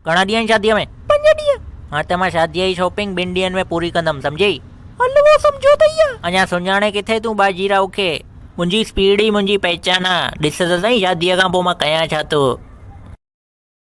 گهڻا ڏينهن آهن شاديء ۾؟ پنج ڏينهن. ها ته مان شاديء جي شاپنگ ٻن ڏينهن ۾ پوري ڪندم، سمجهيئي؟ حلوو سمجهيو اٿئي يا؟ اڃا سڃاڻين ڪٿي تون باجيراو کي؟ منهنجي اسپيڊ ئي منهنجي پهچان آهي. ڏس ته سهين شاديء کان پوء مان ڪيان ڇا ٿو؟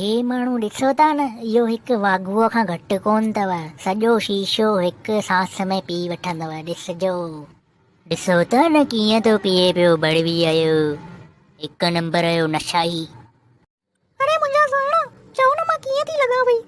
هي ماڻهو ڏسو ٿا نه، اهو هڪ واگهوء کان گهٽ ڪونه اٿو، سڄو شيشو هڪ سانس ۾ پي وٺندو، ڏسجو. ڏسو ٿا نه ڪيئن ٿو پيئي پيو بڙويء جو، هڪ نمبر جو نشائي. اڙي منهنجا سهڻا، چئو نه مان ڪيئن ٿي لڳان پئي.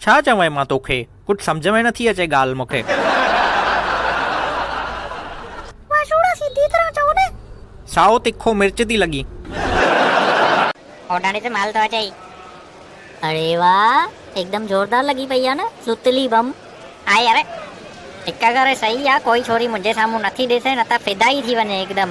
ڇا چوين مان توکي. ڪجھ سمجھ ۾ نٿي اچي ڳالھ مونکي. واھ شوڙا سيڌي طرح چئو نه. سائو تکو مرچ ٿي لڳين. اوڏاڻي تي مال ٿو اچئي. اڙي واھ هڪدم زوردار لڳي پئي آ نه سوتلي بم. آء يار هڪ ڪري سهي آ ڪوئي ڇوري منهنجي سامهون نٿي ڏسي نه ته فدا ئي ٿي وڃي هڪدم.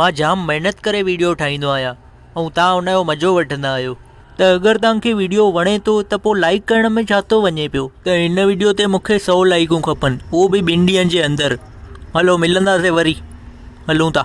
مان جام محنت ڪري ويڊيو ٺاهيندو آهيان ۽ توهان ان جو مزو وٺندا آهيو ته اگر توهان کي ويڊيو وڻي ٿو ته پوء لائيڪ ڪرڻ ۾ ڇا ٿو وڃي پيو. ته هن ويڊيو تي مون کي سؤ لائيڪون کپن اهو به ٻن ڏينهن جي اندر هلو ملنداسين وري هلون ٿا.